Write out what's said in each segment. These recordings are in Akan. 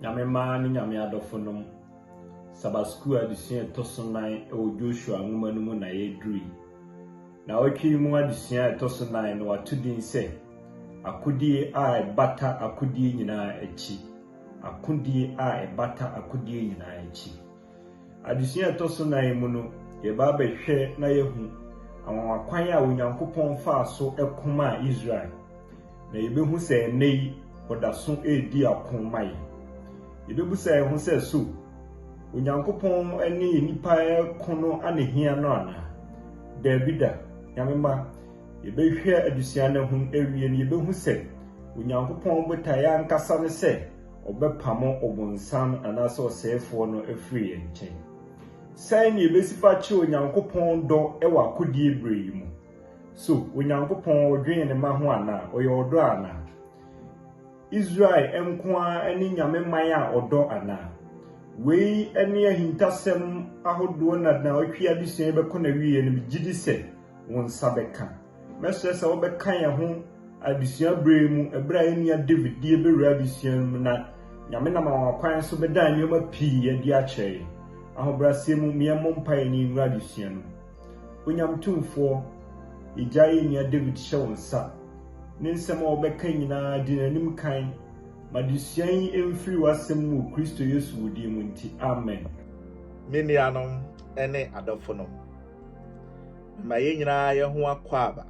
Nyame mmaa ne Nyame adɔfonom, Sabbath School adesua a ɛtɔ so nan wɔ Joshua nwoma no mu na yɛaduru yi. Na ɔtwe no mu adesua a ɛtɔ so nan no wato din sɛ akodie a ɛbata akodie nyinaa akyi. Akodie a ɛbata akodie nyinaa akyi. Adesua a ɛtɔ so nnan mu no, yɛreba abɛhwɛ na yɛahu anwanwakwan a Onyankopɔn faa so ko maa Israel, na yɛbɛhu sɛ ɛnnɛ yi ɔda so redi ako ma yɛn. Yɛbɛbisa yɛn ho sɛ, So Onyankopɔn ne nnipa reko no anehia no anaa? Daabi da. Nyame mma, yɛbɛhwɛ adesua no ho awie no, yɛbɛhu sɛ Onyankopɔn botaeɛ ankasa ne sɛ, ɔbɛpamo Ɔbonsam anaasɛ ɔsɛefoɔ no afiri yɛn nkyɛn. Sɛn na yɛbɛsi fa akyerɛ Onyankopɔn dɔ wɔ akodie berɛ yi mu? So Onyankopɔn ɔdwene ne mma ho anaa? Ɔyɛ ɔdɔ anaa? Israel nko ara ne Nyame man a ɔdɔ anaa? Wei ne ahintasɛm ahodoɔ na naawɔtwe adesua yi bɛkɔ n'awieɛ no, megye di sɛ wo nsa bɛka. Mɛsrɛ sɛ wobɛka yɛn ho adesua berɛ yi mu berɛ a yɛn nua David de yɛn bɛwura adesua no mu na Nyame nam anwanwakwan so bɛda nneɛma pii adi akyerɛ yɛn. Ahobrɛaseɛ mu, me yɛmmɔ mpaeɛ na yɛnwura adesua no mu. Onyame Tumfoɔ, yɛgya yɛn nua David hyɛ wo nsa. Ne nsɛm a ɔbɛka nyinaa, di n'anim kan. Ma adesua yi mfiri w'asɛm mu wɔ Kristo Yesu wo din mu nti, amen. Me nuanom ne adɔfonom, ma yɛn nyinaa yɛn ho akwaaba.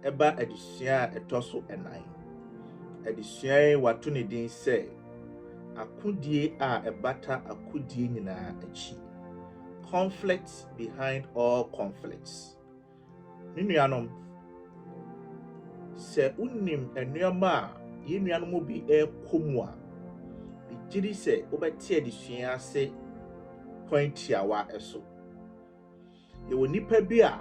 Ɛba adesua a ɛtɔ so nnan. Adesua yi wɔato ne din sɛ, Akodie a Ɛbata Akodie Nyinaa Akyi. Conflicts Behind All Conflicts. Me nuanom, sɛ wonim nneɛma a yɛn nuanom bi rekɔ mu a, megye di sɛ wobɛte adesua yi ase kwan tiawa so. Yɛwɔ nnipa bi a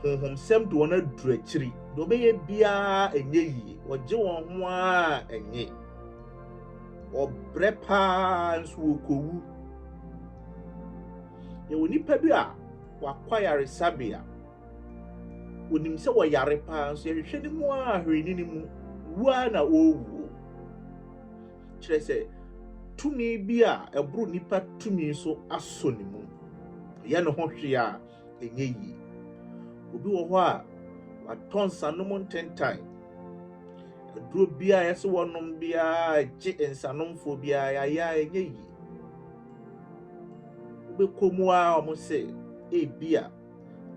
honhomsɛm de wɔn aduru akyiri. Deɛ wɔbɛyɛ biara ɛnyɛ yie. Wɔgye wɔn ho ara ɛnye. Wɔbrɛ paa nso wɔkɔwu. Yɛwɔ nnipa bi a wɔakɔ ayaresabea. Wɔnim sɛ wɔyare paa nso yɛhwehwɛ no mu ara hwee ne no mu. Wu ara na wɔrewuo. kyerɛ sɛ, tumi bi a ɛboro nnipa tumi so asɔ ne mu. Ɔyɛ ne ho hwee a, ɛnyɛ yie. Obi wɔ hɔ a, watɔ nsanom ntentan. Aduro biara a yɛsɛ wɔnom biara gye nsanomfoɔ biara yɛayɛ a, ɛnyɛ yie. Wobɛkɔ mu a wɔn sɛ ebi a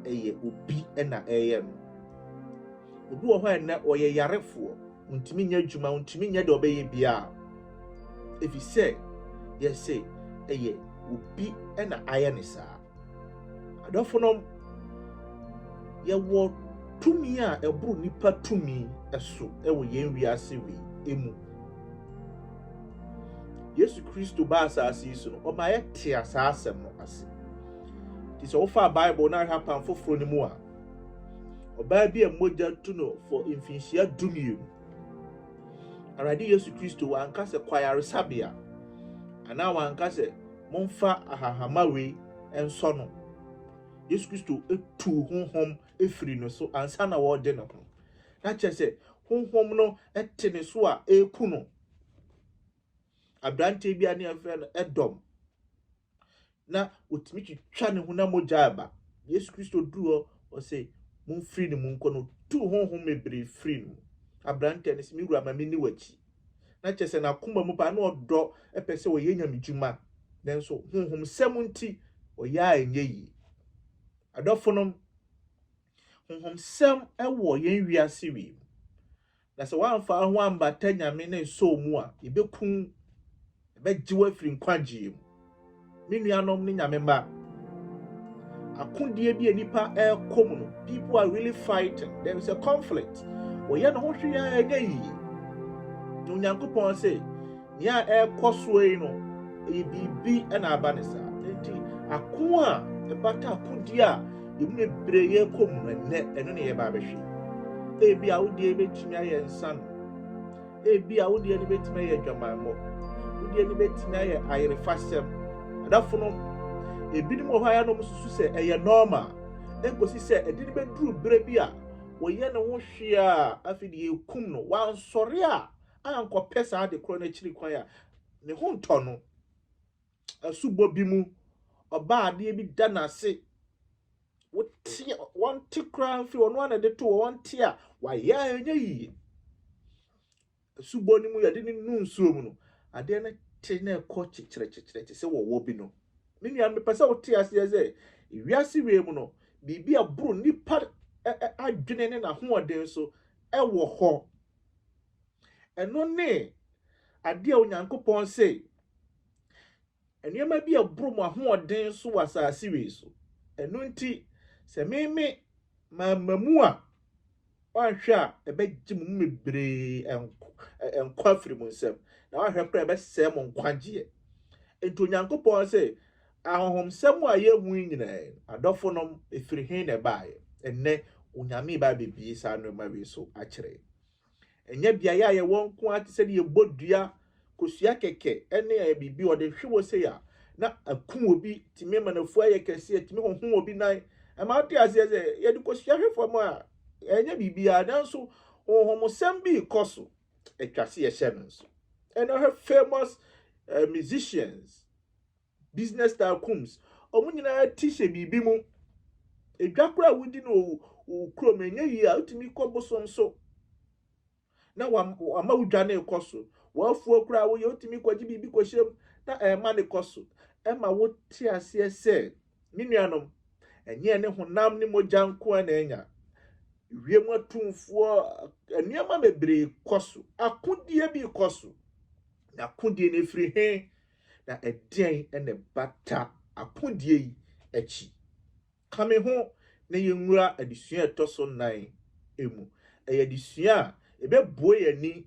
ɛyɛ obi na ɛyɛ no. Obi wɔ hɔ a ɛnɛ ɔyɛ yarefoɔ. Ontumi nyɛ adwuma, ontumi nyɛ deɛ ɔbɛyɛ biara, ɛfiri sɛ yɛse ɛyɛ obi na ayɛ ne saa. Adɔfo nom, yɛwɔ tumi a ɛboro nnipa tumi so wɔ yɛn wiase wei emu. Yesu Kristo baa asase yi so no, ɔma yɛtea saa asɛm no ase. Nti sɛ wofaa Bible no ahwɛ apam foforɔ no mu a, Ɔbaa bi a mogya tu no for mfinhyia dumienu. Awurade Yesu Kristo wanka sɛ kɔ ayaresabea anaa wanka sɛ momfa ahahama wei nsɔ no. Yesu Kristo tu honhom efiri no so ansa na wɔregye ne ho. Na kyerɛ sɛ honhom no te ne so a ɛreku no. Aberanteɛ bi a ne yɛfrɛ no Edom na wɔtumi twitwa ne honam mogya reba. Yesu Kristo duu hɔ, ɔse, Momfiri ne mu nkɔ no. Ɔtuu honhom bebree firii ne mu. Aberanteɛ no se, Me wura, ma menni w'akyi. Na kyerɛ sɛ n'akoma mu paa, na ɔdɔ, pɛ sɛ ɔyɛ Nyame dwuma. Nanso honhomsɛm nti, ɔyɛ a ɛnyɛ yie. Adɔfonom, honhomsɛm wɔ yɛn wiase wei mu. Na sɛ woamfa wo ho ambata Nyame ne nsɔw mu a, yebeku wo. Yɛbɛgye wo afiri nkwagyeɛ mu. Me nuanom ne Nyame mma, akodie bi a nnipa ɛrekɔ mu no, people are really fighting, there is a conflict. Wɔyɛ ne ho hwee a ɛnyɛ yie. Na Onyankopɔn se, Nea ɛrekɔ so yi no, ɛyɛ biribi na aba no saa. Enti ako a ɛbata akodi a emu bebree yɛ kɔ mu no ɛnnɛ, ɛno na yɛba abɛhwɛ. Ebi a wodeɛ bɛtumi ayɛ nsa no, ebi a wodeɛ no bɛtumi ayɛ adwamammɔ, wodeɛ no bɛtumi ayɛ ayerefasɛm. Adafo no, ebinom wɔ hɔ a yɛn nom susu sɛ ɛyɛ nɔɔma, ɛkɔsi sɛ ɛde no bɛduru berɛ bi a wɔyɛ ne ho hwee a afei deɛ yɛkum no, wansɔre a ankɔpɛ saa ade korɔ no akyiri kwan a, ne ho ntɔ no. Asubɔ bi mu, ɔbaa adeɛ bi da n'ase, wote, wɔnte koraa mfiri ɔno ara na ɛde to wɔ, wɔnte a wayɛ a ɛnyɛ yie. Asubɔ no mu yɛde ne nu nsuo mu no, adeɛ no te na ɛkɔ kyekyerɛkyekyerɛ te sɛ wɔwɔ bi no. Me nua, mepɛ sɛ wote aseɛ sɛ wiase wei mu no, biribi a ɛboro nnipa adwene ne n'ahoɔden so ɛwɔ hɔ. Ɛno ne adeɛ a Onyankopɔn se, Nneɛma bi a ɛboro mo ahoɔden so wɔ asase wei so. Ɛno nti, sɛ meme mamma mu a, woanhwɛ a ɛbɛgye mo mu bebree nkwa afiri mo nsam, na woanhwɛ koraa ɛbɛsɛe mo nkwagyeɛ. Enti Onyankopɔn se, Ahonhomsɛm a yɛnhu yi nyinaa yi, adɔfonom, ɛfiri he na ɛbaeɛ? Ɛnnɛ, Onyame reba abɛbie saa nnoɔma wei so akyerɛ yɛn. Ɛnyɛ beaeɛ a yɛwɔ nko ara te sɛ deɛ yɛbɔ dua, kosua kɛkɛ ne biribi a wɔde hwe wɔ sei a, na aku obi, tumi ma n'afuo ayɛ kɛseɛ, tumi honhom obi nan. Ɛma wote aseɛ sɛ yɛde kosua hwe fam a, ɛnyɛ biribiara, nanso honhomsɛm bi rekɔ so. Ɛtwa se yɛhyɛ no nso. Ɛnɛ hwɛ famous uh, musicians, Business tycoons, wɔn nyinaa ti hyɛ biribi mu. Edwa koraa a wodi no wɔ wo kurom no, ɛnyɛ yie a, wotumi kɔ bosom so na wama wo dwa no rekɔ so. W'afuo koraa woyɛ, wotumi kɔgye biribi kɔhyɛ mu na ɛrema no kɔ so. Ɛma wote aseɛ sɛ, me nuanom, ɛnyɛ yɛne honam ne mogya nko ara na anya. Wiem atumfoɔ, nneɛma bebree kɔ so. Akodie bi rekɔ so. Na akodie no, ɛfiri he? Na ɛdeɛn na ɛbata akodie yi akyi? Ka me ho na yɛnwura adesua a ɛtɔ so nnan mu. Ɛyɛ adesua a ɛbɛbue yɛn ani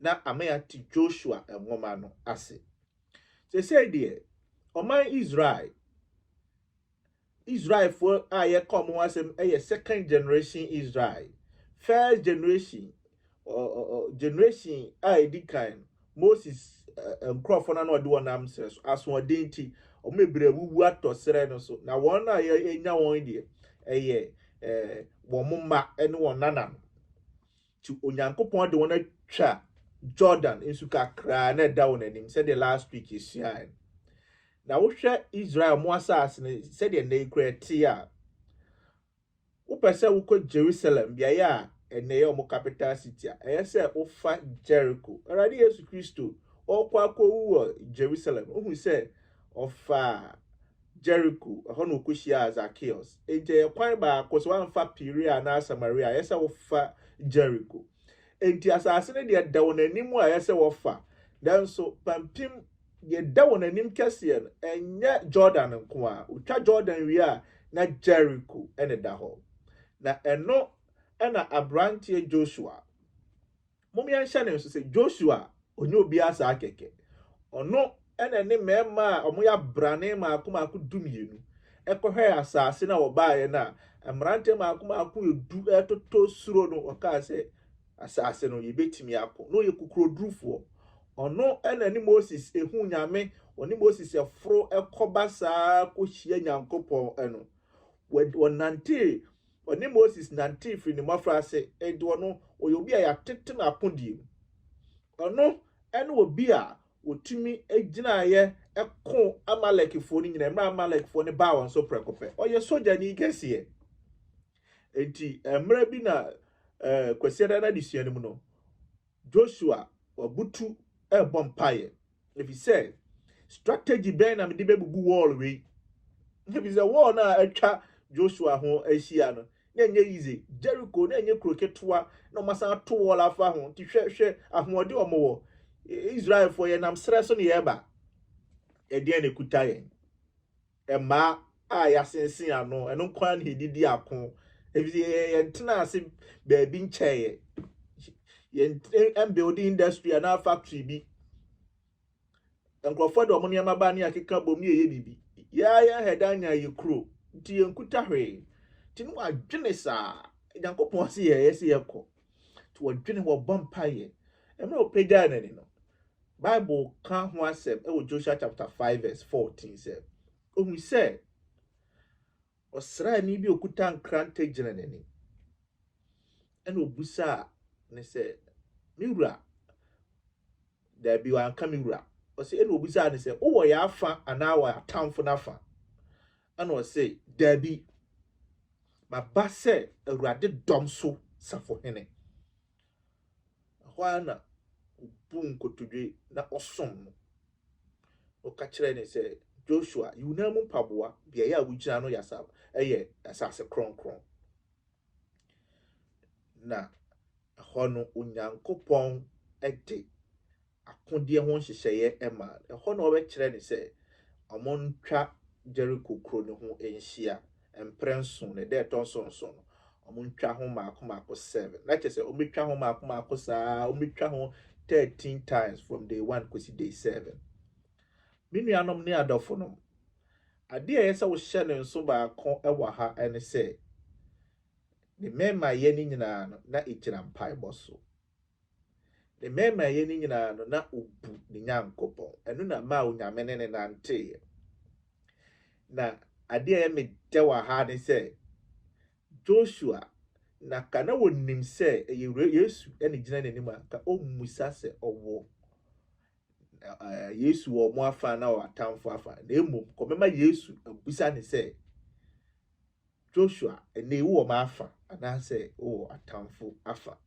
na ama yɛate Joshua nwoma no ase. Seesei deɛ, ɔman Israel Israelfoɔ a yɛka wɔn ho asɛm yɛ second generation Israel. First generation, generation a ɛdi kan no, Moses nkurɔfoɔ no na ɔde wɔn nam serɛ so. Asoɔden nti, wɔn bebree awuwu atɔ serɛ no so. Na wɔn a yɛnya wɔn deɛ, ɛyɛ wɔn mma ne wɔn nananom. Nti Onyankopɔn de wɔn atwa Jordan nsu kakraa na ɛda wɔn anim sɛdeɛ last week yɛsuaeɛ no. Na wohwɛ Israel mo asase no sɛdeɛ nnɛ yi koraa ɛteɛ a, wopɛ sɛ wokɔ Jerusalem, beaeɛ a ɛnnɛ yɛ wɔn capital city a, ɛyɛ sɛ wofa Jericho. Awurade Yesu Kristo, ɔrekɔ akɔwu wɔ Jerusalem, wohu sɛ ɔfaa Jeriko, ɛhɔ na ɔkɔhyiaa Zakeus. Enti ɛyɛ kwan baako, sɛ woamfa Perea anaa Samaria a, ɛyɛ sɛ wofa Jeriko. Enti asase no deɛ da wɔn anim a ɛyɛ sɛ wɔfa, nanso pampim deɛ ɛda wɔn anim kɛseɛ no, ɛnyɛ Jordan nko ara. Wotwa Jordan wie a, na Jeriko na ɛda hɔ. Na ɛno na aberanteɛ Joshua Mom yɛnhyɛ no nso sɛ Joshua a ɔnyɛ obiara saa kɛkɛ. Ɔno na ɛne mmarima a wɔyɛ abrane mmaako mmaako dumienu kɔhwɛɛ asase no a wɔbaeɛ no a mmeranteɛ mmaako mmaako edu retotɔ suro no wɔkaa sɛ asase no yɛbɛtumi ako na ɔyɛ kokurodurufoɔ. Ɔno na ɛne Moses huu Nyame, ɔne Moses foro kɔba saa kɔhyia Nyankopɔn no. Wɔnantee Ɔne Moses nantee firi ne mmɔfraase, enti ɔno, ɔyɛ obi a yɛatete no akodie mu. Ɔno ne obi a ɔtumi gyinaeɛ koo Amalekfoɔ no nyinaa, mmerɛ a Amalekfoɔ no baa wɔn so prɛko pɛ. Ɔyɛ sogyani kɛseɛ. Enti mmerɛ bi na Kwasiada no adesua no mu no, Joshua, wabutu rebɔ mpaeɛ, ɛfiri sɛ, strategy bɛn na mede bɛbubu wall wei? Ɛfiri sɛ, wall no a atwa Joshua ho ahyia no, na ɛnyɛ easy. Jericho, na ɛnyɛ kuro ketewa, na wɔasan ato wall afa ho. Nti hwɛ, hwɛ ahoɔden wɔn wɔ. Israelfoɔ, yɛnam serɛ so na yɛreba. Ɛdeɛn na ɛkuta yɛn? mmaa a yɛasensen ano, ɛno nko ara na yɛdidi ako, ɛfiri sɛ yɛntenaa ase baabi nkyɛeɛ. Yɛmbuilde industry anaa factory bi. Nkurɔfoɔ de wɔn nneɛma ba ne yɛakeka bom ne yɛyɛ biribi. Yɛa yɛn head anya yɛ kuro, nti yɛnkuta hwee. Nti ne wɔadwene saa, Nyankopɔn se yɛyɛ se yɛkɔ. Nti wɔdwene, wɔbɔ mpaeɛ. Mmerɛ ɔpagyae n'ani no, Bible ka ho asɛm wɔ Joshua chapter five verse fourteen sɛ, Ohui sɛ ɔsraani bi a okuta nkrante gyina n'anim. Ɛna obisaa ne sɛ, Me wura? Dabi, wanka me wura. Ɔse, ɛna obisaa ne sɛ, Wowɔ yɛn afa anaa wɔ atamfo no afa? Ɛna ɔse, Dabi, maba sɛ Awurade dɔm so safohene. Ɛhɔ ara na obuu nkotodwe na ɔsom no. Ɔka kyerɛɛ no sɛ, Joshua, yi wo nan mu mpaboa, beae a wugyina no yɛ asase kronkron. Na ɛhɔ no, Onyankopɔn de akodeɛ ho nhyehyɛeɛ maa no. Ɛhɔ na wɔbɛkyerɛɛ no sɛ wɔntwa Jeriko kuro no ho nhyia mprɛ nson, na ɛda a ɛtɔ so nson no, wɔntwa ho mmaako mmaako seven. Na kyerɛ sɛ, wɔbɛtwa ho mmaako mmaako saa ara, wɔbɛtwa ho thirteen times from day one kɔsi day seven. Me nuanom ne adɔfonom, adeɛ a ɛyɛ sɛ wohyɛ no nso baako wɔ ha ne sɛ, ne mmarima yɛ no nyinaa no, na ɛgyina mpaebɔ so. Ne mmaemayɛ no nyinaa no, na obu ne Nyankopɔn. Ɛno na ɛmaa Onyame ne no nanteeɛ. Na adeɛ a ɛyɛ me dɛ wɔ ha ne sɛ, Joshua, na ka na ɔnim sɛ ɛyɛ Yesu na ɛgyina n'anim a, anka ɔremmisa sɛ ɔwɔ Yesu wɔ wɔn afa anaa ɔwɔ atamfo afa. Na mmom, kɔbɛma Yesu abisa no sɛ, Joshua, ɛnnɛ yi wowɔ m'afa anaasɛ wowɔ atamfo afa?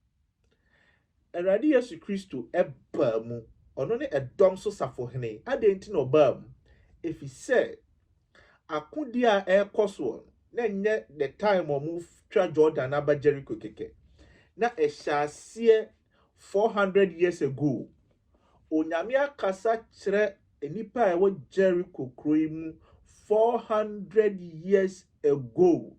Awurade Yesu Kristo baa mu, ɔno ne ɛdɔm so safohene. Adɛn nti na ɔbaa mu? Efisɛ akodi a ɛrekɔ soɔ no, na ɛnyɛ the time a wɔtwa Jordan aba Jericho kɛkɛ. Na ɛhyɛ aseɛ 400 years ago Onyame akasa kyerɛ nnipa a ɛwɔ Jericho kuro yi mu four hundred years ago.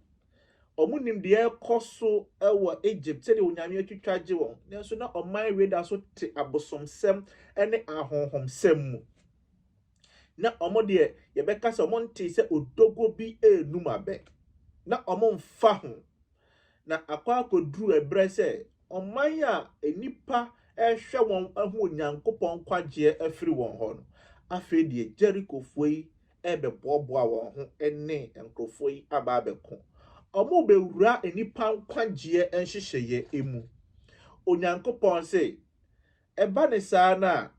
Wɔn nim deɛ ɛrekɔ so wɔ Egypt sɛdeɛ Onyame atwitwa agye wɔn. Nanso na ɔman wei da so te abosomsɛm ne ahonhomsɛm mu. Na wɔn deɛ yɛbɛka sɛ wɔn ntee sɛ odogwo bi renum abɛ. Na wɔn mfa ho. na akɔ akɔduru ɛberɛ sɛ ɔman a nnipa rehwɛ wɔn ahu Onyankopɔn nkwagyeɛ afiri wɔn hɔ no, afei deɛ Jerikofoɔ yi rebɛboaboa wɔn ho ne nkorɔfoɔ yi aba abɛko. Wɔrebɛwura nnipa nkwagyeɛ nhyehyɛeɛ mu. Onyankopɔn se, ɛba ne saa no a,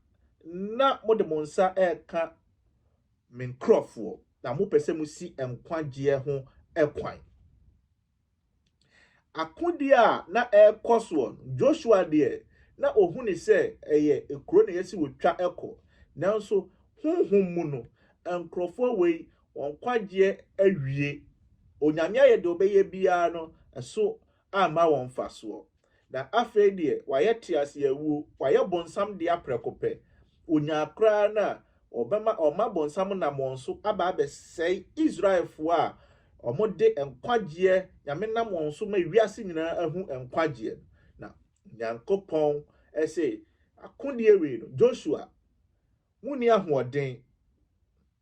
na mode mo nsa reka Me nkurɔfoɔ, na mopɛ sɛ mosi nkwagyeɛ ho kwan. Akodeɛ a na ɛrekɔ soɔ no, Joshua deɛ, na ɔhu no sɛ ɛyɛ kuro na ɛyɛ sɛ wɔtwa kɔ. Nanso honhom mu no, nkurɔfoɔ wei, wɔn nkwagyeɛ awie. Onyame ayɛ deɛ ɔbɛyɛ biara no, ɛso amma wɔn mfasoɔ. Na afei deɛ wayɛ teaseawuo, wayɛ bonsam dea prɛko pɛ. Ɔnyaa koraa no a, ɔbɛma ɔma bonsam nam wɔn so aba abɛsɛe Israelfoɔ a wɔde nkwagyeɛ Nyame nam wɔn so ma wiase nyinaa ahu nkwagyeɛ no. Na Nyankopɔn se, akodeɛ wei no, Joshua, Munni ahoɔden,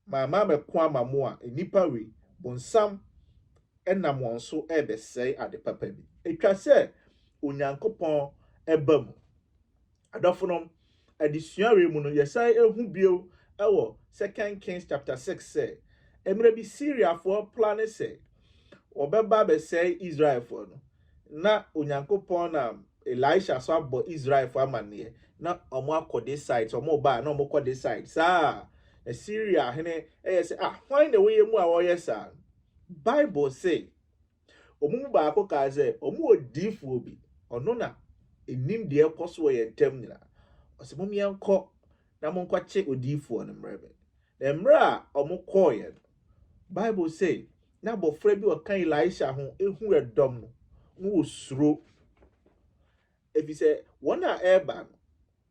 ma mammɛko ama mo a nnipa wei, bonsam, nam wɔn so rebɛsɛe ade papa bi. Etwa sɛ Onyankopɔn ba mu. Adɔfonom, adesua wei mu no, yɛsan hu bio wɔ Second Kings chapter six sɛ, mmerɛ bi Siriafoɔ plane sɛ, wɔbɛba abɛsɛe Israelfoɔ no, na Onyankopɔn nam Elisha so abɔ Israelfoɔ amanneɛ, na wɔakɔ this side, sɛ wɔreba a, na wɔkɔ this side. Saa a, na Syria hene yɛ sɛ, ah, hwan na wɔyɛ mu a wɔyɛ saa? Bible se, wɔn mu baako kaa sɛ, wɔn wɔ diifoɔ bi, ɔno na ɛnim deɛ ɛkɔ so wɔ yɛn ntam nyinaa. Ɔse, mom yɛnkɔ na monkɔkye odiifoɔ no mmerɛ me. Na mmerɛ a wɔkɔɔeɛ no, Bible se na abɔfra bi a ɔka Elisha ho hu ɛdɔm no, na wɔsuro, efisɛ wɔn a ɛreba no,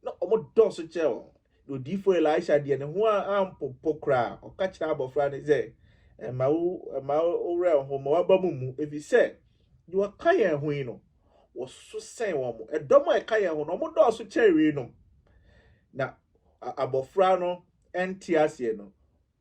na wɔdɔɔso kyɛn wɔn. Na odiyifoɔ Elisha deɛ, ne ho ampopo koraa. Ɔka kyerɛ abɔfra no sɛ, Mma wo, mma wo werɛ nho, mma w'aba mu mmu, efisɛ deɛ ɔka yɛn ho yi no, wɔso sɛn wɔn. Ɛdɔm a ɛka yɛn ho no, wɔdɔɔso kyɛn weinom. Na abɔfra no nte aseɛ no,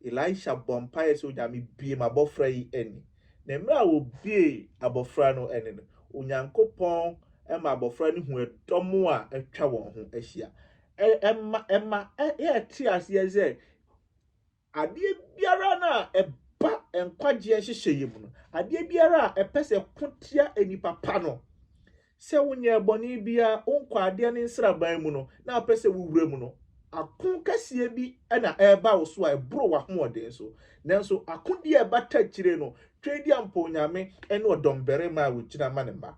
Elisha bɔ mpaeɛ sɛ, Onyame, bue m'abɔfra yi ani. Na mmerɛ a ɔbuee abɔfra no ani no, Onyankopɔn ma abɔfra no huu ɛdɔm a atwa wɔn ho ahyia. Ɛma ɛma yɛte aseɛ sɛ, adeɛ biara no a ɛba nkwagyeɛ nhyehyɛeɛ mu no, adeɛ biara a ɛpɛ sɛ ɛko tia nnipa pa no, Sɛ wonyɛɛ bɔne biara wo nkwaadeɛ ne nsraban mu no, na wopɛ sɛ wowura mu no, ako kɛseɛ bi na ɛreba wo so a ɛboro w'ahoɔden so. Nanso akodie a ɛbata akyire no, Tweaduampɔn Nyame ne ɔdɔmbarima a ɔgyina ma ne mma.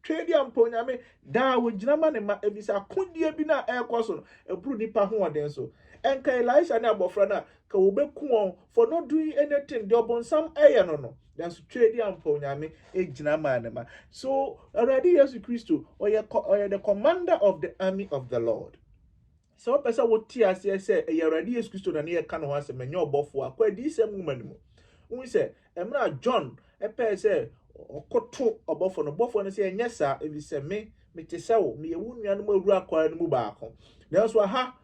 Tweaduampɔn Nyame daa ɔgyina ma ne mma, ɛfiri sɛ akodie bi no a ɛrekɔ so no, ɛboro nnipa ahoɔden so. Ɛnka Elisa ne abɔfra no a, anka wɔbɛku wɔn. For not doing anything, deɛ ɔbonsam ɛyɛ no no, nanso twɛdi ampa onyame egyina maa ne ma. So Awurade Yesu Kristo ɔyɛ ɔyɛ the commander of the army of the Lord. Sɛ wopɛ sɛ wote aseɛ sɛ ɛyɛ Awurade Yesu Kristo na ne yɛ ka ne ho asɛm ɛnyɛ ɔbɔfoɔ a, kɔ adiyisɛm nwoma no mu. Wohu sɛ ɛmmerɛ a John ɛpɛɛ sɛ ɔkoto ɔbɔfoɔ no, ɔbɔfoɔ no sɛ ɛnyɛ saa, ɛfiri sɛ me mete sɛ wo, meyɛ wo nuanom awura akwaa no mu baako. Nanso aha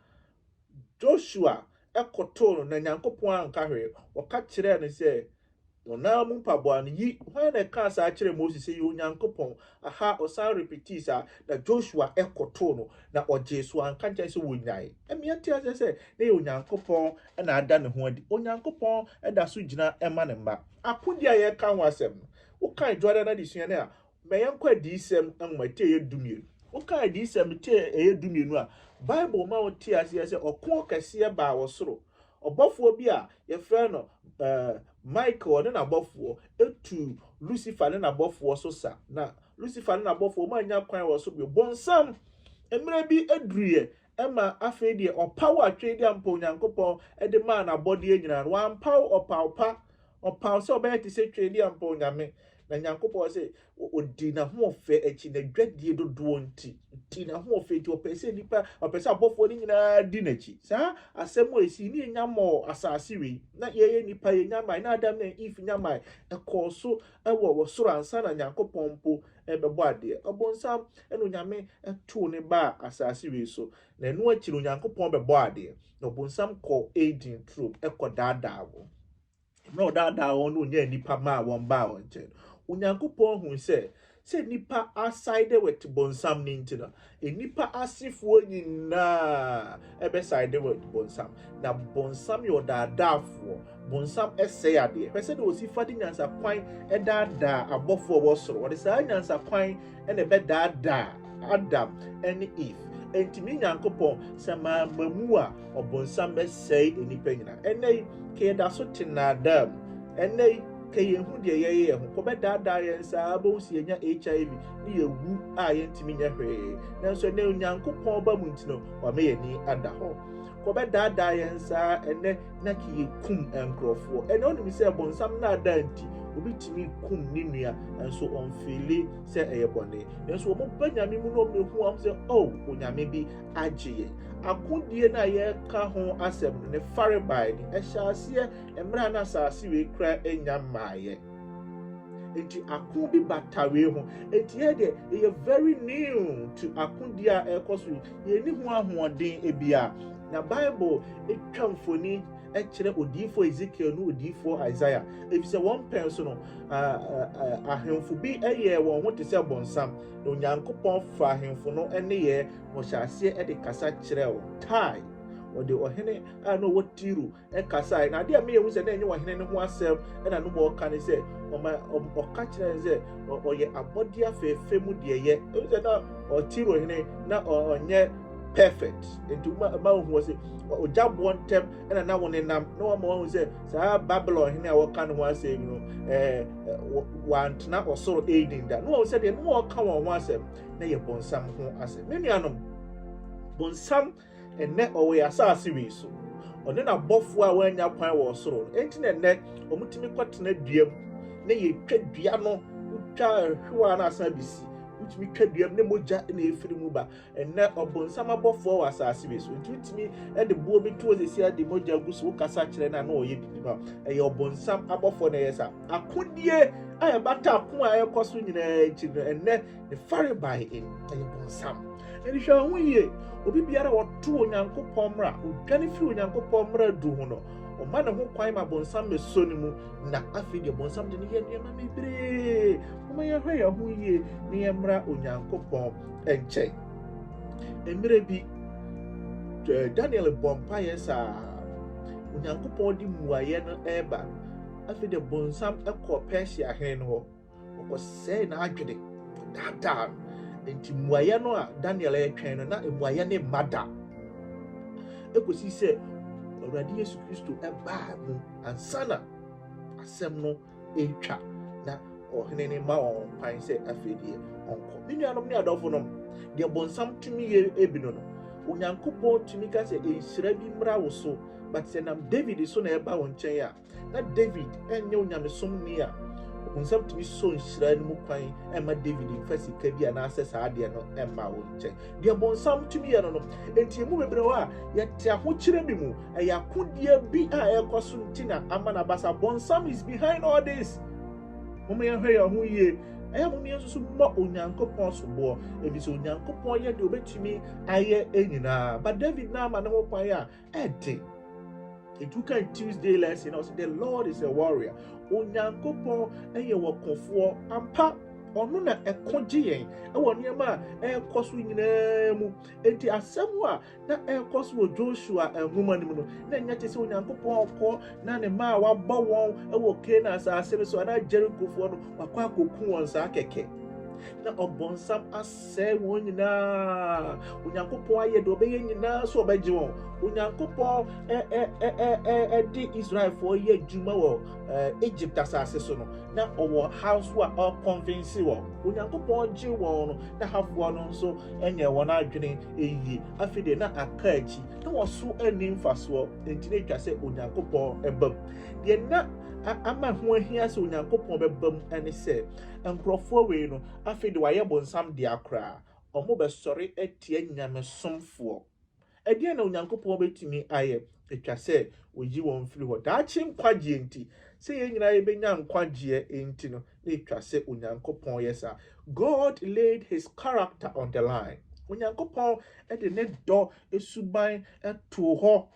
Joshua kotoo no, na Nyankopɔn anka hwee. Wɔka kyerɛɛ no sɛ, Wɔn ara mu mpaboa no, yi, hwan na ɛkaa saa kyerɛɛ Moses sɛ, 'Yɛ Onyankopɔn'? Aha, ɔsan repetii saa, na Joshua kotoo no, na ɔgyee so, anka nkyerɛ sɛ wɔnyae. Ɛmmea nte aseɛ sɛ na ɛyɛ Onyankopɔn na ada ne ho adi. Onyankopɔn da so gyina ma ne mma. Akodie a yɛreka ho asɛm no, wokan Jordan Adesua no a, Ma yɛnkɔ Adiyisɛm nwoma ti ɛyɛ dumienu. Woka Adiyisɛm ti ɛyɛ dumienu a, Bible ma wote aseɛ sɛ ɔko kɛseɛ baa wɔ soro. Ɔbɔfoɔ bi a yɛfrɛ no uh, Michael ne n'abɔfoɔ tuu Lucifer ne n'abɔfoɔ so sa, na Lucifer ne n'abɔfoɔ wɔannya kwan wɔ so bio. Bonsam mmerɛ bi aduruiɛ ma afei deɛ ɔpaw atwee de ampa Onyankopɔn de maa n'abɔdeɛ nyinaa no, wampaw ɔpaw pa, ɔpaw sɛ ɔbɛyɛ te sɛ twee de ampa Onyame. Na Nyankopɔn se ɔdii n'ahoɔfɛ akyi, n'adwadie dodoɔ nti, ɔdii n'ahoɔfɛ nti, ɔpɛɛ sɛ nnipa, ɔpɛɛ sɛ abɔfoɔ no nyinaa di n'akyi. Saa asɛm a ɛsii ne yɛnya mɔɔ asase wei, na yɛyɛ nnipa, yɛnya mae, na Adam ne Eve nya mae, ɛkɔɔ so wɔ wɔ soro ansa na Nyankopɔn mpo rebɛbɔ adeɛ. Ɔbonsam na Onyame too ne baa asase wei so, na ɛno akyi no Onyankopɔn bɛbɔɔ adeɛ. Na ɔbonsam kɔɔ Eden turo mu kɔ daadaa wɔn. Mmerɛ a ɔdaadaa wɔn na ɔnyaa nnipa maa wɔn baa wɔn nkyɛn no, Onyankopɔn hui sɛ, sɛ nnipa aside with bonsam no nti no, Nnipa asefoɔ nyinaa bɛsaede wɔ bonsam, na bonsam yɛ ɔdaadaafoɔ, bonsam sɛe adeɛ, ɛpɛ sɛdeɛ ɔsi fa de nyansakwan daadaa abɔfoɔ a ɛwɔ soro, ɔde saa nyansakwan na ɛbɛdaadaa Adam ne Eve, enti me Nyankopɔn, sɛ mamma mu a, ɔbonsam bɛsɛe nnipa nyinaa. Ɛnnɛ yi, ka yɛda so te nnaadaa mu, ɛnnɛ yi, ka yɛnhu deɛ yɛyɛ yɛn ho, kɔbɛdaadaa yɛn saa, wobɛhu sɛ yɛanya HIV, ne yɛn wu a yɛntumi nyɛ hwee. Nanso ɛnɛ Onyankopɔn ba mu nti no, wama yɛn ani ada hɔ. Kɔbɛdaadaa yɛn saa ɛnɛ na ki yɛkum nkurɔfoɔ. Ɛnɛ wonim sɛ bɔnsam naadaa nti, obi tumi kum ne nua, nanso ɔmfeele sɛ ɛyɛ bɔne. Nanso wɔn ba Nyame mu no wɔn hu wɔn sɛ, oh, Onyame bi agye yɛn. Akodie no a yɛka ho asɛm no, ne farebae no, ɛhyɛ aseɛ mmerɛ a na asase wei koraa nnya mmaaeɛ. Enti ako bi ba tawee ho. Enti yɛ deɛ yɛyɛ very new to akodi a ɛrekɔ so yi. Yɛnni ho ahoɔden bia. Na Bible twa mfoni kyerɛ odiyifoɔ Ezekiel ne odiyifoɔ Isaiah. Efisɛ wɔn mpɛn so no, ahemfo bi yɛɛ wɔn ho te sɛ bonsam, na Onyankopɔn fa ahemfo no nneyɛɛ na ɔhyɛ aseɛ de kasa kyerɛɛ wɔn. Tae, ɔde ɔhene a na ɔwɔ Tiro kasae, na ade a meyɛ hu sɛ na ɛnyɛ ɔhene no ho asɛm na no ma ɔka ne sɛ, ɔma ɔka kyerɛ no sɛ ɔyɛ abɔdeɛ afɛɛfɛ mu deɛ yɛ. Ɛhu sɛ na Tiro hene na ɔnyɛ perfect, nti ma ohu ɔse ɔgya boɔ ntɛm na na wɔn nam na wɔn ma wɔn sɛ saa Babylon hene a wɔka ne ho asɛm yi no ɛɛ wantena ɔsoro Eden da. Na wɔn sɛ deɛ no ma ɔka wɔn ho asɛm na yɛ bɔnsam ho asɛm. Me nuanom, bɔnsam Ɛnnɛ, ɔwɔ yɛn asase wei so. Ɔne n'abɔfoɔ a wɔannya kwan wɔ ɔsoro. Enti na ɛnnɛ, wɔtumi kɔtena dua mu, na yɛtwa dua no, wotwa hwewa na asan abɛsi. Wotumi twa dua mu, na mogya na ɛfiri mu ba. Ɛnnɛ, ɔbonsam abɔfoɔ wɔ asase wei so. Enti wotumi de boɔ bi to hɔ sɛsi a de mogya gu so, wokasa kyerɛ no a na ɔyɛ biribi ma. Ɛyɛ ɔbonsam abɔfoɔ na ɛyɛ saa. Akodie a ɛbata ako a ɛrekɔ so nyinaa akyi no, ɛnnɛ Ne farebae e, ɛyɛ bonsam. Ɛne hwɛ ho yie, obi biara ɔto Onyankopɔn mmara, odwane firi Onyankopɔn mmara du ho no, ɔma ne ho kwan ma bonsam bɛsɔ ne mu, na afei deɛ bonsam de no yɛ nneɛma bebree. Moma yɛhwɛ yɛn ho yie na yɛmmra Onyankopɔn nkyɛn. Mmerɛ bi, Daniel bɔ mpaeɛ saa, Onyankopɔn de mmuaeɛ no ɛreba no, afei deɛ bonsam kɔɔ Persia hene no hɔ. wɔkɔsɛe n'adwene, daadaa no. Enti mmuaeɛ no a Daniel retwɛn no, na mmuaeɛ no mma da. Ɛkɔsi sɛ Awurade Yesu Kristo baa mu ansa na asɛm no retwa na ɔhene no ma wɔn kwan sɛ afei deɛ ɔnkɔ. Me nuanom ne adɔfo nom, deɛ bɔnsam tumi yɛ ebi no no, Onyankopɔn tumi ka sɛ nhyira bi mmra wo so, but sɛ nam David so na ɛba wo nkyɛn a, Ná Dawid nyɛ onyamesomni a ɔbonsam tumi sɔ nhyira no mu kwan mma Dawid mfa sika bi anaasɛ saa adeɛ no mma wo nkyɛn. Deɛ bonsam tumi yɛ no no, enti yɛn mu bebree a yɛte ahokyerɛ bi mu, ɛyɛ akodeɛ bi a ɛrekɔ so nti na ama no aba saa. Bonsam is behind all this. Momma yɛnhwɛ yɛn ho yie. Ɛyɛ a momma yɛnsusu mmɔ Onyankopɔn soboɔ, ɛfiri sɛ Onyankopɔn yɛ deɛ ɔbɛtumi ayɛ nyinaa. But Dawid no ama ne ho kwan a, ɛde ɛdu kan tuesday lesson na ɔsɛ the lord is a warrior onyankopɔn ɛyɛ wɔ kofoɔ ampa ɔno na ɛko gye yɛn ɛwɔ nneɛma a ɛrekɔ so nyinaa mu enti asɛm a na ɛrekɔ so wɔ joshua nwoma no mu no na ɛnyɛ te sɛ onyankopɔn ɔkɔ na ne mma a wabɔ wɔn ɛwɔ kana asase no so anaa jerikofoɔ no wakɔ akɔku wɔn saa kɛkɛ na ɔbɔnsam as Sɛe wɔn nyinaa. Onyankopɔn ayɛ deɛ ɔbɛyɛ nyinaa sɛ ɔbɛgye wɔn. Onyankopɔn de Israelfoɔ yɛ adwuma wɔ Egypt asase so no, na ɔwɔ haw so a ɔrekɔnvense wɔn. Onyankopɔn gye wɔn no, na hafoɔ no nso nyɛ wɔn adwene yie. Afei deɛ na aka akyi, na wɔn so nni mfasoɔ, enti na ɛtwa sɛ Onyankopɔn ba mu. Deɛ na ama ho ahia sɛ Onyankopɔn bɛba mu ne sɛ, nkurɔfoɔ wei no, Afei de wɔayɛ bonsam dea koraa, wɔbɛsɔre atia nyamesomfoɔ. Ɛdeɛn na Onyankopɔn bɛtumi ayɛ? Ɛtwa sɛ ɔyi wɔn firi hɔ. Daakye nkwagyeɛ nti, sɛ yɛn nyinaa yɛbɛnya nkwagyeɛ nti no, na ɛtwa sɛ Onyankopɔn yɛ saa. God laid his character on the line. Onyankopɔn de ne dɔ suban too hɔ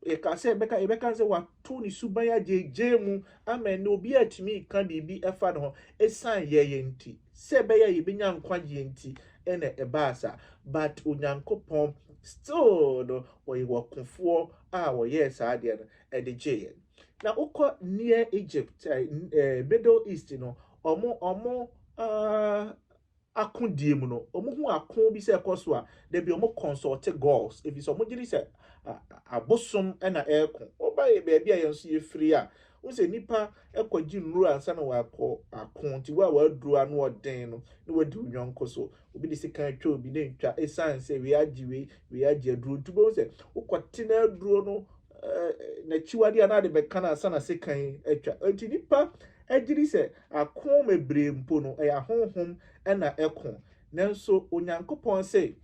Yɛka sɛ, yɛbɛka, yɛbɛka sɛ wɔato ne suban agyeegyee mu ama ɛnnɛ obiara atumi reka biribi fa ne ho esiane yɛyɛ nti, sɛ ɛbɛyɛ a yebenya nkwagyeɛ nti na ɛbaa saa. But Onyankopɔn still no, ɔyɛ ɔkofoɔ a ɔyɛɛ saa adeɛ no de gyee yɛn. Na wokɔ Near Egypt, ɛɛ, Middle East no, wɔn, wɔn, ah, akodie mu no, wɔhu ako bi sɛ ɛkɔ so a, da bi wɔn kɔnsɔɔte gods, ɛfiri sɛ wɔn gyedi sɛ abosom na ɛreko. Woba baabi a yɛn nso yɛfiri a, wohu sɛ nnipa kɔ gye nnuro ansa na wɔakɔ ako, nti wo a w'aduro ano ɔden no, na w'adi wo yɔnko so, obi de sekan atwa obi, na ntwa, ɛsiane sɛ wei agye wei, wei agye aduro, nti wobɛhu sɛ wokɔ te na aduro no n'akyiwadeɛ anaa de bɛka no ansa na sekan atwa. Enti nnipa gye di sɛ ako bebree mpo no, ɛyɛ ahonhom na ɛko. Nanso Onyankopɔn se,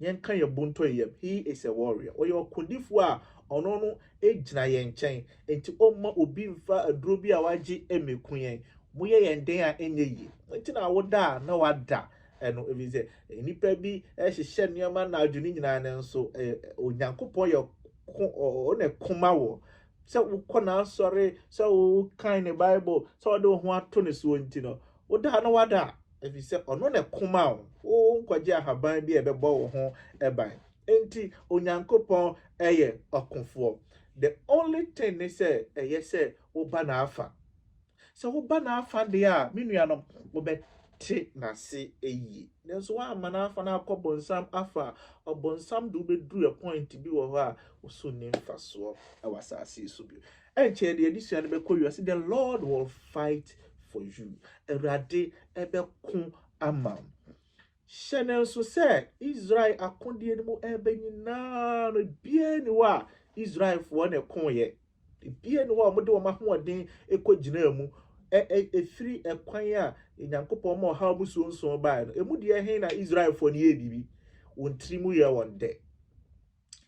Yɛnka yɛn bo ntɔ yɛn yam. He is a warrior. Ɔyɛ ɔkodifoɔ a ɔno no gyina yɛn nkyɛn. Enti ɔmma obi mfa aduro bi a wagye mmɛku yɛn. Moyɛ yɛn dɛn a ɛnyɛ yie? Enti na woda a na wada Ɛno efisɛ nnipa bi hyehyɛ nneɛma anadwo no nyinaa nanso Onyankopɔn yɛ ko ɔne koma wɔ sɛ wokɔ n'asɔre sɛ wokan ne Bible sɛ ɔde wo ho ato ne soɔ nti no woda no wada efisɛ ɔno ne koma wo wo nkɔgye ahaban bi a ɛbɛbɔ wo ho ban enti Onyankopɔn yɛ ɔkofoɔ the only thing ne sɛ ɛyɛ sɛ woba n'afa Sɛ woba n'afã de a, me nuanom, mobɛte n'ase eyi. Nanso woamma n'afã no akɔ bonsam afã a, ɔbonsam de wo beduru point bi wɔ hɔ a, wo so nni mfasoɔ wɔ asase yi so bio. Ɛnkyɛe deɛ adesua no bɛkɔ wiase, The Lord will fight for you, Awurade bɛko ama wo. Hyɛ no nso sɛ Israel akodeɛ no mu ɛbɛ nyinaa no, ebiara nni hɔ a Israelfoɔ na ɛkoeɛ. Ebiara nni hɔ a wɔde wɔn ahoɔden kɔgyinaa mu. Ɛfiri ɛkwan a Onyankopɔn ma ɔhaw mu suonsuon baeɛ no, emu deɛ he na Israelfoɔ no yɛɛ biribi? Wɔn tiri mu yɛɛ wɔn dɛ.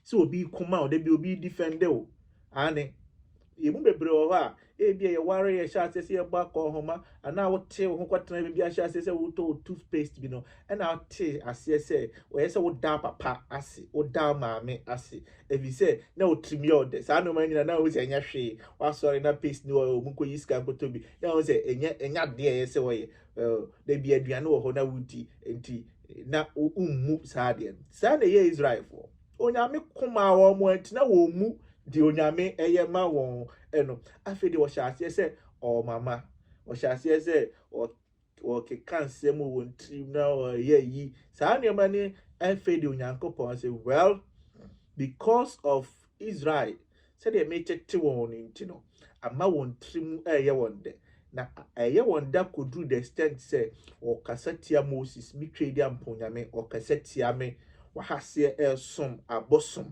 sɛ obi kuma wo, da bi obi defende wo. Aane. Yɛn mu bebree wɔ hɔ a, ebia yɛwaree, yɛhyɛ aseɛ sɛ yɛbɔ akɔnhoma, anaa wotee wo ho kɔtenaa baabi ahyɛ aseɛ sɛ wotɔ wo toothpaste bi no, ɛna wotee aseɛ sɛ ɔyɛ sɛ wodaa papa ase, wodaa maame ase, ɛfiri sɛ na wo tirim yɛ wo dɛ. Saa nneɛma no nyinaa na wohu sɛ ɛnyɛ hwee. Woasɔre na paste no wɔ hɔ, wɔkɔyi sika nkɔtɔ bi, na wohu sɛ ɛnyɛ ɛnyɛ adeɛ a ɛyɛ sɛ wɔyɛ. oh, da bi aduane wɔ hɔ na wodi nti na wommu saa adeɛ no saa na ɛyɛ israelfoɔ onyame ko maa wɔn mo antina wɔn mu de onyame ɛyɛ ma wɔn ɛno afei de wɔhyɛ aseɛ sɛ ɔmama wɔhyɛ aseɛ sɛ wɔkeka nsɛm wɔ wɔn tirim na wɔyɛ yi saa nneɛma ne afei de onyankopɔn sɛ well because of Israel, sɛdeɛ meretete wɔn no nti no, ama wɔn tiri mu reyɛ wɔn dɛ, na ɛreyɛ wɔn dɛ kɔduru the extent sɛ wɔkasa tia Moses, me Tweaduampɔn Nyame, wɔkasa tia me, wɔahaseɛ resom abosom.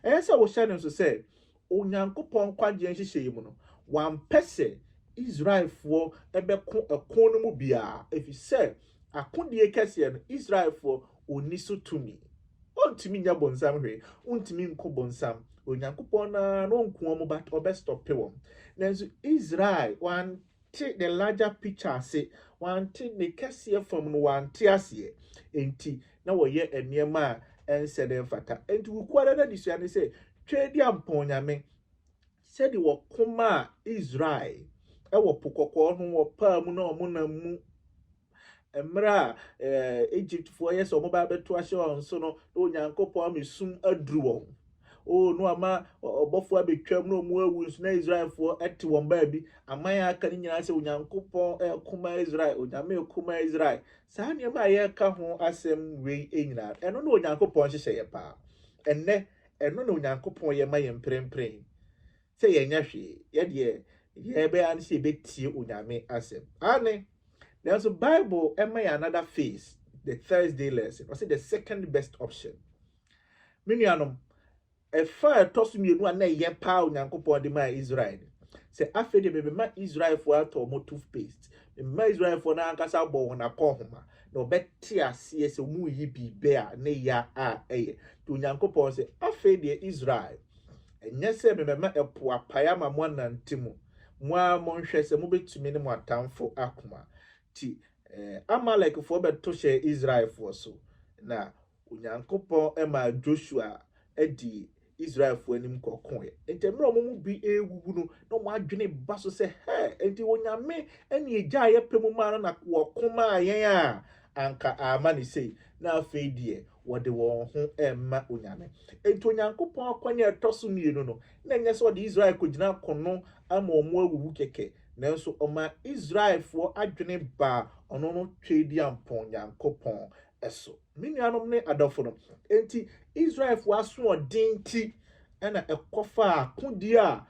Ɛyɛ sɛ wohyɛ no nso sɛ, Onyankopɔn nkwagyeɛ nhyehyɛeɛ mu no, wampɛ sɛ Israelfoɔ bɛko ɛko no mu biara, ɛfiri sɛ akodie kɛseɛ no, Israelfoɔ, onni so tumi. Ontumi nyɛ bonsam hwee, ontumi nko bonsam. Onyankopɔn no ara na onku wɔn but ɔbɛstɔpe wɔn. Nanso Israel wante the larger picture ase, wante ne kɛseɛ fam no wante aseɛ, enti na wɔyɛ nneɛma a ɛnsɛ na ɛmfata. Enti wo kuo ara n'adesua ne sɛ Twɛdi ampɔn nyame sɛdeɛ wɔko maa Israel wɔ po kɔkɔɔ ho wɔ paa mu na wɔnam mu. Mmerɛ a Egyptfoɔ yɛ sɛ wɔbɛba abɛto ahyɛ wɔn so no, na Onyankopɔn ama esum aduru wɔn. O, na wama ɔbɔfoɔ abɛtwam na wɔn awu nso, na Israelfoɔ te wɔn baabi. Aman a aka no nyinaa sɛ, Onyankopɔn reko ma Israel, Onyame reko ma Israel. Saa nneɛma a yɛreka ho asɛm wei nyinaa, ɛno ne Onyankopɔn nhyehyɛeɛ paa. Ɛnnɛ, ɛno na Onyankopɔn yɛ ma yɛn mprempren. sɛ yɛnyɛ hwee, yɛ deɛ yɛbɛyɛ ara ne sɛ yɛbɛtie Onyame asɛm. Aane, nanso Bible ɛma yɛn another phase, the Thursday lesson, ɔse the second best option. Me nuanom, ɛfa a ɛtɔ so mmienu a na ɛyɛ paa Onyankopɔn de maa Israel no, sɛ afei deɛ mebɛma Israelfoɔ atɔ wɔn toothpaste, mebɛma Israelfoɔ no ankasa abɔ wɔn akɔnhoma, na wɔbɛte aseɛ sɛ wɔreyi biribi a ne ya a ɛyɛ. Nti Onyankopɔn se, afei deɛ Israel, Ɛnyɛ sɛ mebɛma ɛpo apae ama moanante mu, mo ara monhwɛ sɛ mobɛtumi ne mo atamfo ako a. Nti Amalekfoɔ bɛto hyɛɛ Israelfoɔ so, na Onyankopɔn maa Josua dii Israelfoɔ anim kɔkoeɛ. Enti mmerɛ a wɔn mu bi rewuwu no, na wɔn adwene ba so sɛ, Hɛ! Enti Onyame ne ɛgya a yɛpɛ mu maa no na wɔko maa yɛn a, Anka ama no sei, na afei deɛ wɔde wɔn ho rema onyame. Enti Onyankopɔn akwan a ɛtɔ so mmienu no, na ɛnyɛ sɛ ɔde Israel kɔgyina akono ama wɔn awuwu kɛkɛ, nanso ɔmaa Israelfoɔ adwene baa ɔno no Tweaduampɔn Nyankopɔn so. Me nuanom ne adɔfonom, enti Israelfoɔ asoɔden nti na ɛkɔfaa akodie a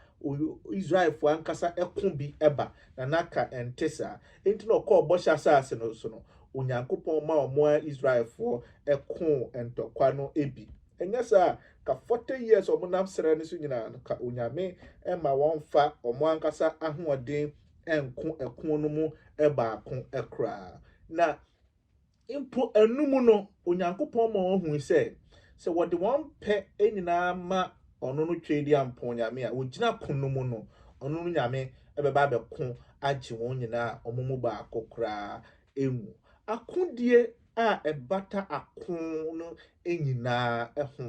Israelfoɔ ankasa ko bi ba, na na anka ɛnte saa. Enti na ɔkɔɔ Bɔhyɛ Asase no so no, Onyankopɔn ma wɔn ara Israelfoɔ koo ntɔkwa no bi. Ɛnyɛ saa a, ka forty years a wɔnam serɛ no so nyinaa no, ka Onyame mma wɔmfa wɔn ankasa ahoɔden nko ɛko no mu baako koraa. Na. Mpo ɛno mu no, Onyankopɔn ma wɔhui sɛ, sɛ wɔde wɔn pɛ nyinaa ma ɔno no Tweaduampɔn Nyame a ogyina ko no mu no, ɔno no Nyame bɛba abɛko agye wɔn nyinaa a wɔn mu baako koraa anwu. Akodie a ɛbata ako no nyinaa ho,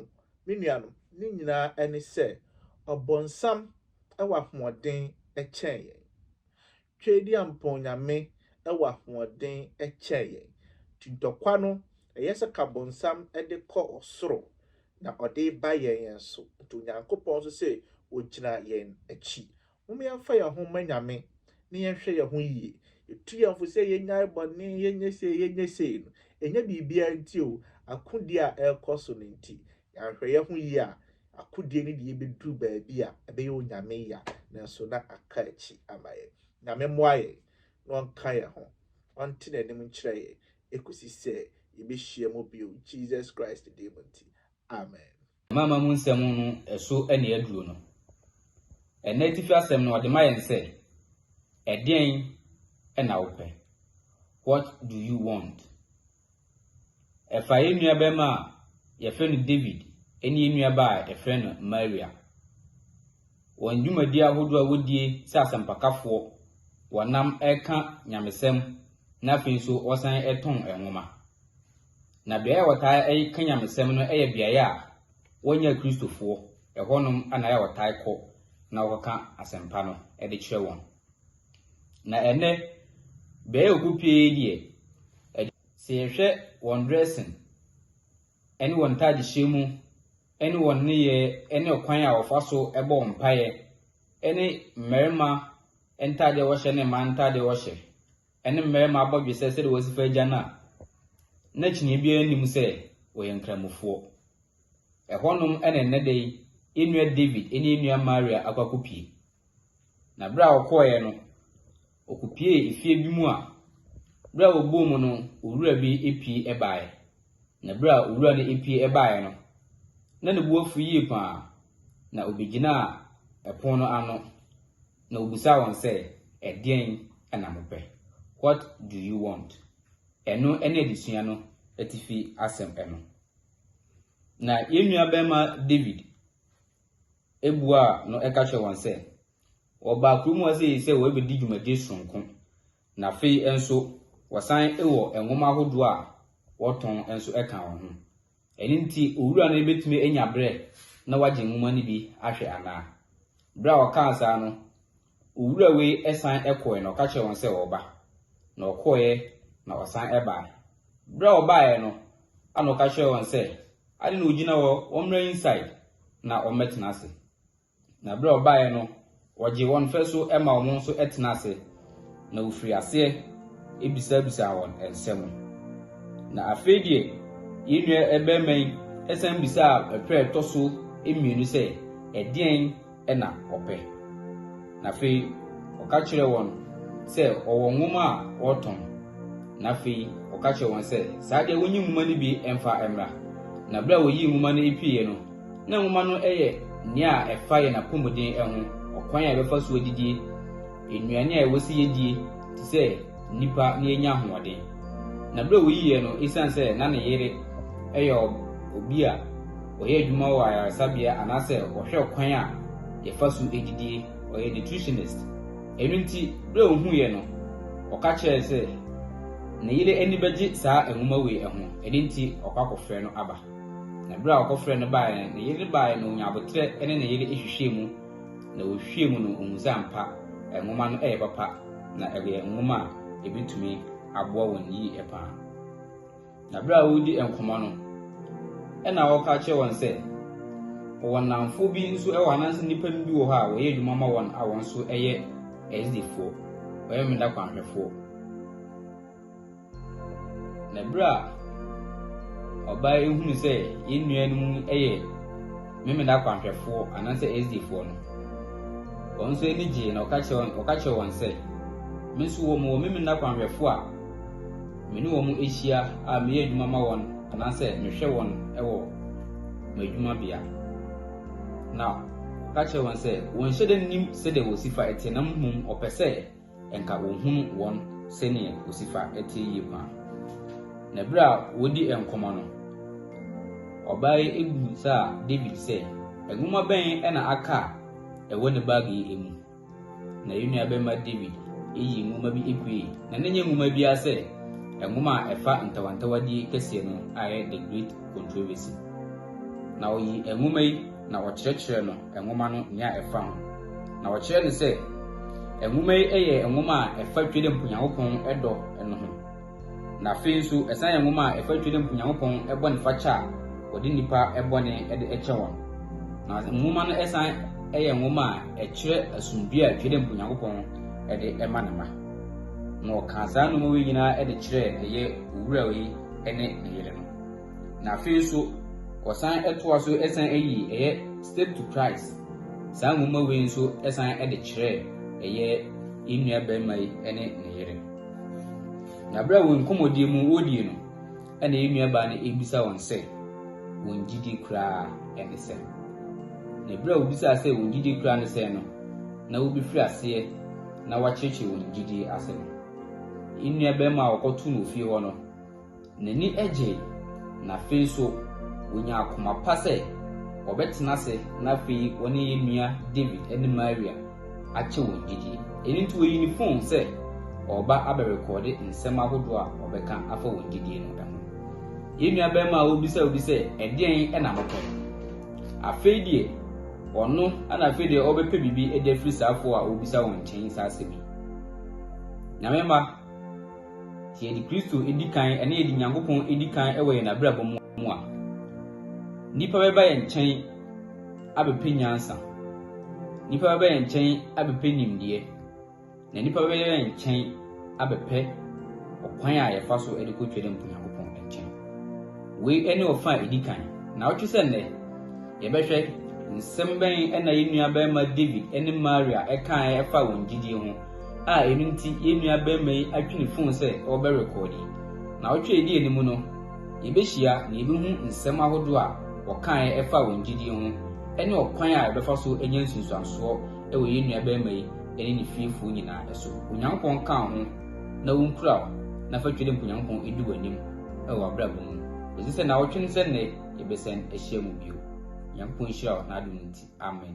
me nuanom, ne nyinaa ne sɛ, ɔbonsam wɔ ahoɔden kyɛn yɛn. Tweaduampɔn nyame wɔ ahoɔden kyɛn yɛn. Nti ntɔkwa no, ɛyɛ sɛ ka bonsam de kɔ ɔsoro, na ɔde reba yɛn yɛn so. Nti Onyankopɔn nso se ogyina yɛn akyi. Mom yɛmfa yɛn ho mma Nyame, na yɛnhwɛ yɛn ho yie. Yɛtu yɛn fo sɛ yɛnyae bɔne, yɛnyɛ sei, yɛnyɛ sei no, ɛnyɛ biribiara nti o, akodie a ɛrekɔ so no nti. Yɛanhwɛ yɛn ho yie a, akodie no de yɛn bɛduru baabi a ɛbɛyɛ Onyame ya, nanso na aka akyi ama yɛn. Nyame mmoa yɛn na Ɔnka yɛn ho, Ɔnte N'anim nkyerɛ yɛn ɛkɔsi sɛ yɛbɛhyia mu bio Jesus Christ din mu nti, Amen. Mama mu nsɛm no so na yɛaduru no. Ɛnnɛ atifi asɛm no, ɔde ma yɛn sɛ, Ɛdeɛn na wopɛ? What do you want? Ɛfa yɛn nuabarima a wɔfrɛ no David ne yɛn nuabaa a wɔfrɛ no Maria. Wɔn dwumadi ahodoɔ a wɔdie sɛ asɛmpakafoɔ, wɔnam ɛka nyamesɛm na afei nso wɔsan ɛtɔn nwoma. Na beaeɛ a wɔtaa ɛka nyamesɛm no yɛ beaeɛ a wɔnyɛ Kristofoɔ, ɛhɔnom na wɔtaa kɔ na wɔkɔka asɛmpa no de kyerɛ wɔn. Na ɛnnɛ, bɛyɛ obu pii yi deɛ, ɛde, sɛ yɛhwɛ wɔn dressing ne wɔn ntaadehyɛ mu ne wɔn nneyɛɛ ne ɔkwan a wɔfa so bɔ mpaeɛ ne mmarima ntaadeɛ a wɔhyɛ ne mmaa ntaadeɛ a wɔhyɛ ne mmarima abɔdwesɛ sɛdeɛ wɔsi fa agya no a, na kyiniiɛ biara nnim sɛ wɔyɛ nkramofoɔ. Ɛhɔnom na ɛnnɛ da yi yɛn nua David ne yɛn nua Maria akɔ akɔpie. Na berɛ a ɔkɔeɛ no, ɔkɔpuee efie bi mu a, berɛ a ɔbɔɔ mu no, owura bi pue baeɛ. Na berɛ a owura no pue baeɛ no, na ne bo afu yie pa ara, na ɔbɛgyinaa ɛpono no ano, na ɔbisaa wɔn sɛ, Ɛdeɛn na mopɛ? What do you want? Ɛno ne adesua no atifi asɛm no. Na yɛn nuabarima David buaa no ka kyerɛɛ wɔn sɛ, Wɔbaa kurom ha sɛ sɛ wɔrebɛdi dwumadie sononko, na afei nso wɔsan wɔ nwoma ahodoɔ a wɔtɔn nso ka wɔn ho. Ɛno nti, owura no bɛtumi anya berɛ na wagye nwoma no bi ahwɛ anaa? Berɛ a ɔkaa saa no, Owura wei san kɔeɛ na ɔka kyerɛɛ wɔn sɛ ɔreba, na ɔkɔeɛ na ɔsan baeɛ. Berɛ a ɔbaeɛ no, ɛnna ɔka kyerɛɛ wɔn sɛ, Adɛn na wɔgyina hɔ? Wɔmmra inside na wɔmmɛtena ase. Na berɛ a ɔbaeɛ no, ɔgyee wɔn fɛ so ma wɔn nso tenaa ase, na ɔfirii aseɛ bisabisaa wɔn nsɛm. Na afei deɛ, yɛn nua barima yi san bisaa pɛrɛ a ɛtɔ so mmienu sɛ, Ɛdeɛn na wɔpɛ. Na afei ɔka kyerɛɛ wɔn sɛ ɔwɔ nwoma a ɔretɔn. Na afei ɔka kyerɛɛ wɔn sɛ, Saa deɛ, wɔnyi nwoma no bi mfa mmra. Na berɛ a wɔyii nwoma no pueeɛ no, na nwoma no yɛ nea a ɛfa yɛn apɔmuden ho, ɔkwan a yɛbɛfa so adidie, nnuane a ɛwɔ sɛ yɛdie, te sɛ, nnipa na yɛanya ahoɔden. Na berɛ a ɔyii yɛn no, ɛsiane sɛ na ne yere yɛ obi a ɔyɛ adwuma wɔ ayaresabea anaasɛ ɔhwɛ ɔkwan a yɛfa so didie, ɔyɛ nutritionist. Ɛno nti, berɛ a ɔhuu yɛn no, ɔka kyerɛɛ sɛ ne yere ani bɛgye saa nwoma wei ho, ɛno nti ɔkɔ akɔfrɛ no aba. Na berɛ a ɔkɔfrɛɛ no baeɛ no, ne yere baeɛ na ɔnyaa aboterɛ ne ne yere hwehwɛɛ mu, na wohwiee mu no, ohun sɛ ampa nwoma no yɛ papa na ɛyɛ nwoma a ebetumi aboa wɔn yiye paa. Na bere a wɔredi nkɔmmɔ no, ɛna ɔka kyerɛ wɔn sɛ wɔwɔ nnamfo bi nso wɔ anaasɛ nnipa bi wɔ hɔ a wɔyɛ adwuma ma wɔn a wɔn nso yɛ ɛsdefoɔ, wɔyɛ mmeda kwanhwɛfoɔ. Na berɛ a ɔbaa yi hunu sɛ yɛn nua no mu yɛ memena kwanhwɛfoɔ anaasɛ SDfoɔ no, wɔn nso ani gyee na ɔka kyerɛ ɔka kyerɛ wɔn sɛ, me nso wɔ wɔ memena kwanhwɛfoɔ a me ne wɔn ahyia a meyɛ adwuma ma wɔn anaasɛ mehwɛ wɔn wɔ m'adwumabea. Na ɔka kyerɛ wɔn sɛ wɔnhyɛ da nnim sɛdeɛ wɔsi fa ɛte na mmom ɔpɛ sɛ Nka wɔhunu wɔn sɛdeɛ wɔsi fa teɛ yie paa. Na berɛ a wɔredi nkɔmmɔ no, ɔbaa yi bisaa David sɛ, Nwoma bɛn na aka a ɛwɔ ne bag yi mu? Na yɛn nuabarima David yii nwoma bi puei, na na ɛnyɛ nwoma biara sɛ nwoma a ɛfa ntawantawadie kɛseɛ no a ɛyɛ The Great Controversy. Na ɔyii nwoma yi na wɔkyerɛkyerɛɛ no nwoma no nea ɛfa ho, na wɔkyerɛɛ no sɛ nwoma yi yɛ nwoma a ɛfa Tweedump Nyankopɔn dɔ no ho, na afei nso ɛsan yɛ nwoma a ɛfa Tweedump Nyankopɔn bɔnefakyɛ a wɔde nnipa bɔne de kyɛ wɔn. Na nwoma no san yɛ nwoma a ɛkyerɛ asomdwoe a Tweedump Nyankopɔn de ma ne mma. Na wɔkaa saa nnoɔma wei nyinaa de kyerɛɛ ɛyɛ owura yi ne ne yere no. na afei nso wɔsan toa so san yi ɛyɛ Step to Christ saa nwoma wei nso san de kyerɛ ɛyɛ yɛn nua barima yi ne ne yere. Na berɛ a wɔn nkɔmmɔdie mu wɔdie no, ɛna yɛn nua baa no ebisa wɔn sɛ wɔn gyidi koraa ne sɛ. Na berɛ a wɔbisaa sɛ wɔn gyidi koraa ne sɛ no, na wɔbɛfiri aseɛ na wɔakyerɛkyerɛ wɔn gyidie ase no. Yɛn nua barima a wɔkɔto no ofie hɔ no, N'ani gyei, na afei nso onyaa koma pa sɛ ɔbɛtena ase na afei ɔne yɛn nua David ne Maria akyɛ wɔn gyidie. Ɛno nti ɔyii ne fon sɛ ɔreba abɛrekɔɔde nsɛm ahodoɔ a ɔbɛka afa wɔn gyidie no ho. Yɛn nua barima a ɔbisa obi sɛ ɛdeɛn na mopɛ? Afei deɛ ɔno na afei deɛ ɔbɛpɛ biribi de afiri saafoɔ a ɔbisa wɔn nkyɛn saa asɛm yi. Nyame mma. Sɛ yɛde Kristo di kan na yɛde Nyankopɔn di kan wɔ yɛn abrabɔ mu a, nnipa bɛba yɛn nkyɛn abɛpɛ nyansa. Nnipa bɛba yɛn nkyɛn abɛpɛ nimdeɛ. Na nnipa bɛba yɛn nkyɛn abɛpɛ ɔkwan a yɛfa so de kɔ Twam Nyankopɔn nkyɛn. Wei ne ɔfa a ɛdi kan. Na wotwe sɛ nnɛ, yɛbɛhwɛ nsɛm bɛn na yɛn nuabarima David ne Maria kaeɛ ɛfa wɔn gyidie ho. a ɛno nti yɛn nua barima yi atwe ne fon sɛ ɔrebɛrekɔɔde. Naawɔtwe a ɛdi anim no, yɛbɛhyia na yɛbɛhu nsɛm ahodoɔ a wɔkaeɛ ɛfa wɔn gyidie ho ne ɔkwan a yɛbɛfa so anya nsunsuansoɔ wɔ yɛn nua barima yi ne ne fiefoɔ nyinaa so. Onyankopɔn nka wo ho na ɔnkura wo na fa Twɛdɛ Mpo Nyankopɔn ɛdi w'anim wɔ w'abrabɔ mu. Yɛgye sɛ naawɔtwe no sɛ nnɛ yɛbɛsan ahyia mu bio. Nyankopɔn nhyira wo n'adom nti. Amen.